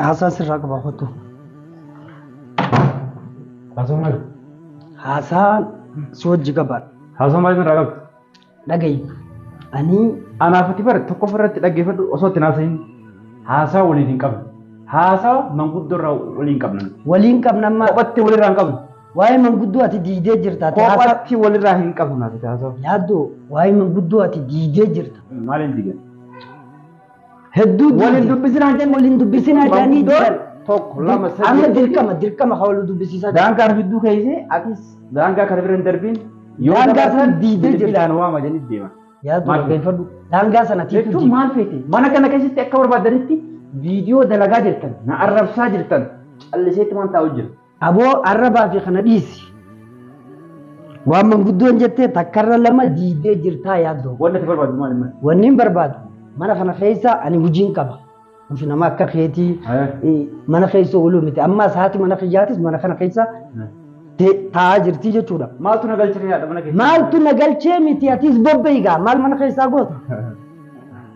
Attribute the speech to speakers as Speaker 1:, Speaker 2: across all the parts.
Speaker 1: Haasaa sirraa qaba kottu.
Speaker 2: Haasoo maal? Haasaa
Speaker 1: si wajji qaba. Haasoo maal irraa qabdu?
Speaker 2: Dhagayi.
Speaker 1: Ani Anaaf ati bara
Speaker 2: tokko ofirratti dhaggeeffadhu osoo itti naasahin haasaa waliin hin qabnu. Haasaa manguddoo irraa waliin qabna. waliin qabna amma
Speaker 1: Kophatti walirraa hin qabnu.
Speaker 2: Waa'ee manguddoo ati
Speaker 1: diigdee jirta. Ati haasaa Kophaatti walirraa
Speaker 2: hin qabnu naaf itti haasa'u. yaaddo waa'ee
Speaker 1: manguddoo ati diigdee jirta. Maaliin diigan? Hedduu Waliin diigde. dubbisinaan
Speaker 2: jenne. Waliin dubbisinaa jedhanii
Speaker 1: Manguddoon diigan. tokko lama sadii.
Speaker 2: Amma dirqama
Speaker 1: dirqama kan waliin dubbisiisaa jiru. Daangaa arfidduu keessee
Speaker 2: atis daangaa kana bira hin darbiin. Yoo Daangaa dabarsan sana
Speaker 1: diigdee jirti. bilbilaan waama jedhanii deema.
Speaker 2: Yaaddo Maal beeffadhu.
Speaker 1: daangaa sana tiitu Jechuun diigde. maal feete?
Speaker 2: Mana kana keessatti akka barbaadanitti viidiyoo dalagaa jirtan, na arrabsaa jirtan, calliseetti waan taa'u jira. Aboo arrabaa
Speaker 1: fi kana dhiisi. Waan manguddoon jettee takkarra lama diidee jirtaa yaaddoo. Wanni ati barbaadu maali maali?
Speaker 2: Wanni hin barbaadu
Speaker 1: mana kana keessa ani hojiin qaba. Nuti nama akka keetii Haya. eh, mana keessa ooluu miti. Amma saati mana kiyyaatis mana kana keessa te- taa'aa jirtii jechuudha. Maaltu na galchee haadha
Speaker 2: mana keessaa? Maaltu na galchee
Speaker 1: miti atis bobbeegaa maal mana keessaa goota?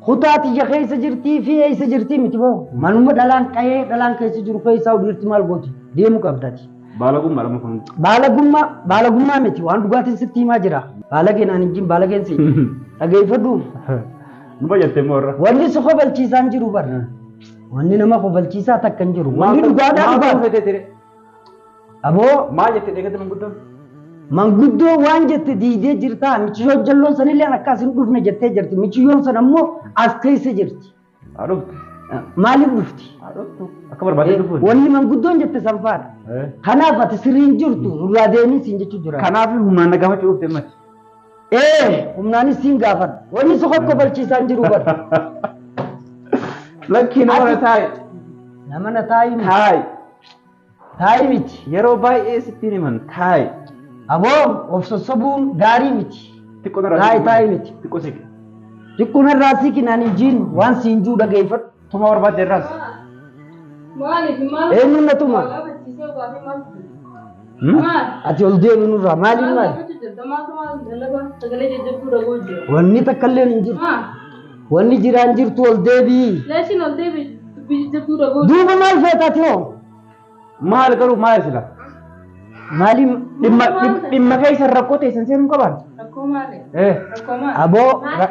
Speaker 2: Kutaa
Speaker 1: tiyya keessa jirtii fi eessa jirtii miti moo? Manuma dhalaan qa'ee dhalaan keessa jiru keessaa dhiirti maal gooti? Deemu qabda ati. Baalagummaa dha kun.
Speaker 2: Baalagummaa baalagummaa
Speaker 1: miti waan dhugaatiin sitti himaa jira. Baalagee naan hin jin baalageen si dhageeffadhu. Nu
Speaker 2: bayyattee moo irra? Wanni si kofalchiisaan
Speaker 1: jiru bara. Wanni nama kofalchiisaa takka hin jiru. Wanni dhugaadhaa dhugaadha. Maal ta'uu fedhe ture?
Speaker 2: Aboo
Speaker 1: Maal jette dheekatti
Speaker 2: manguddoon? manguddoo
Speaker 1: waan jette diidee jirtaa michiyoo jalloon sanillee akka asin dhufne jettee jirti michiyoon san ammoo as keessa jirti Haa dhuftu.
Speaker 2: maaliif
Speaker 1: dhufti Haa dhuftu. Akka
Speaker 2: barbaadee dhufuun. wanni manguddoon jette
Speaker 1: sanfaadha Eh. kanaaf ati sirriin jirtu nurraa deemii siin jechuu jira Kanaaf humnaan na gaafachuu
Speaker 2: dhufte mati. ee
Speaker 1: humnaanis siin gaafadha wanni isa kokko balchiisaan jiru bar
Speaker 2: Lakkii nama na Ati- taa'i. nama na
Speaker 1: taa'iin Taa'i. Taa'ii
Speaker 2: miti. Yeroo baay'ee sittiin himan taa'i. Aboo
Speaker 1: of sossobuun gaarii miti. Xiqqoo narraa Taa'i siqi.
Speaker 2: taa'i miti. Xiqqoo
Speaker 1: siqi.
Speaker 2: Xiqqoo narraa
Speaker 1: siqi naan hin jiin waan siin juu dhageeffadhu. Tumaa barbaadde irraas.
Speaker 2: Maaliif
Speaker 3: maal? Eenyuun na tuma?
Speaker 1: Gaafachiisee baafii maal? Ati ol deemu nurraa maaliin maali? Wanni takka illee hin jirtu. Wanni jiraan jirtu ol deebi'i. Duuba maal feeta ati hoo? Maal
Speaker 2: garuu maal sila? Maaliin
Speaker 1: dhimma dhimma-
Speaker 2: dhimma keessa rakkoo teessan seenuu qabaan? Eh. Aboo.
Speaker 1: ra-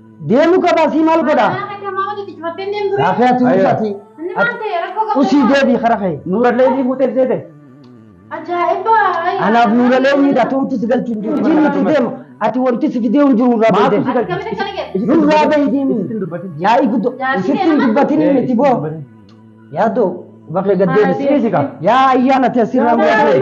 Speaker 2: Deemu qaba asii
Speaker 1: maal godha? Raafee ati uffati. Usii deebii kara kee. Nuurallee ni fuutee seete.
Speaker 3: Anaaf
Speaker 1: nuurallee ni hidhatu wanti si galchu hin jiru. Ijiin nuti deema. Ati wanti si fidee hin jiru irraa Maaltu si beekte. galchu? Nurraa
Speaker 2: bahi deemi. Isitti hin
Speaker 1: dubbatin. Yaa'ii guddoo. Isitti hin dubbatin miti boo. Yaadoo. Bakka gad deebisi. Yaa
Speaker 2: ayyaana
Speaker 1: teessirraa muudate.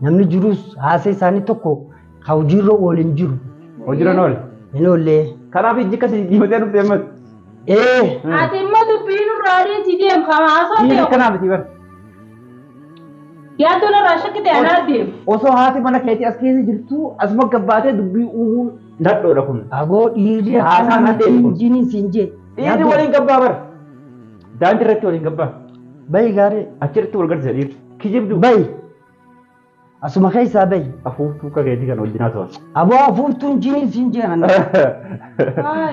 Speaker 1: Namni jirus haasa isaanii tokko ka hojiirra oole hin jiru. Hojiirra hin oole.
Speaker 2: Hin oollee.
Speaker 1: Kanaaf ijji akkasii
Speaker 2: diimatee dhufte ammas. Ee.
Speaker 3: Ati immoo dubbii nurraa adeemsi deem kan haasoo Dhiirri ta'e kanaa miti bara. yaaddoon irraa shakkite anaa deem. Osoo haati mana keetii
Speaker 2: as keessa jirtu asuma gabbaatee dubbii uumuun nadhoodha kun. Agoo dhiirri
Speaker 1: Haasaa akkanaa nadheen kun.
Speaker 2: injiiniin
Speaker 1: siin
Speaker 2: jee.
Speaker 1: Dhiirri waliin gabbaa
Speaker 2: bara. Daandii irratti waliin gabbaa. Bayi gaarii.
Speaker 1: Achirratti wal gargaarsa dhiirri.
Speaker 2: Kijibdu. Bayi.
Speaker 1: Asuma keessaa bayi. Afuuftuu akka keetii kan
Speaker 2: wajjin haasawaa. Aboo afuuftuun
Speaker 1: jiniin siin jiran.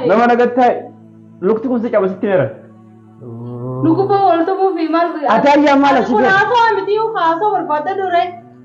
Speaker 2: Nama nagattaa lukti kun si caba sitti meera.
Speaker 3: Lukuboo wal tubuufi maal. Ataayyaa maal asii
Speaker 1: Kun haasawaa miti haasawaa
Speaker 3: barbaadda duree.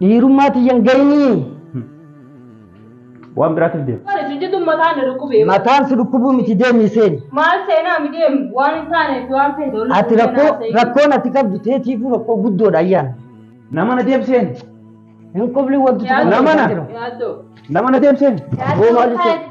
Speaker 1: Dhiirummaa tiyyan gayinii.
Speaker 2: Waan biraatiif deema. Kan isin jedhu mataan na
Speaker 3: dhukkubee. Mataan si dhukkubuu miti
Speaker 1: deemii seeni. Maal seenaa mi
Speaker 3: deemu waan hin taaneef waan feete ol Ati rakkoo
Speaker 1: rakkoon ati qabdu teetiifuu rakkoo guddoodha ayyaan. Nama na
Speaker 2: deemseen. Hin qubli
Speaker 1: wanti Yaadoo. Nama na. Yaaddoo.
Speaker 2: Nama na deemseen. Yaaddoo Boo maal mataa jechuudha?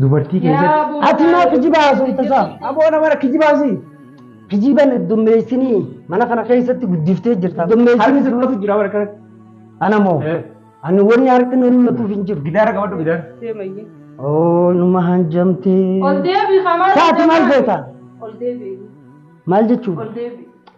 Speaker 2: Dubartii keessatti. Ati maa kijibaa
Speaker 1: haasofta isaa? Aboo nama kijibaasi.
Speaker 2: Kijiban
Speaker 1: dummeessinii mana kana keessatti guddiftee jirta. Harki Dummeessinii si mul'atu
Speaker 2: jira bara
Speaker 1: kanatti.
Speaker 2: ana moo
Speaker 1: Eh. ani wanni harki na mul'atuuf hin jiru. Gidaara qabadhu gidaara.
Speaker 2: Deemayye. Oo
Speaker 1: numa hanjamtee. Ol deebi kamaa.
Speaker 3: Saati maal goota?
Speaker 1: Ol deebi.
Speaker 3: Maal jechuudha?
Speaker 1: Ol deebi.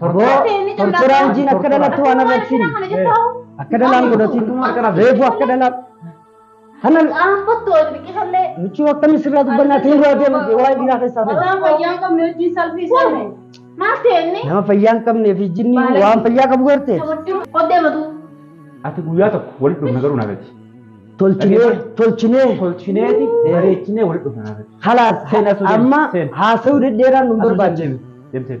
Speaker 1: Tortoraa hojiin akka dhalatti waan arrabsiin akka dhalaan godhatiin reefu akka dhalaan kana michuu akkamii sirraa dubbannaa tiin duraa deema waa'ee dhiiraa keessaa ta'e. Nama fayyaan qabnee fi jinni waan fayyaa qabu garte
Speaker 2: Ati guyyaa tokko walitti dhufna garuu naafati. tolchinee tolchinee
Speaker 1: Tolchineeti bareechinee walitti
Speaker 2: dhufna naafati. halaas Seen asuu deemi, amma
Speaker 1: seen. haasa'uu deddeeraan nu barbaachisa. Deemseen.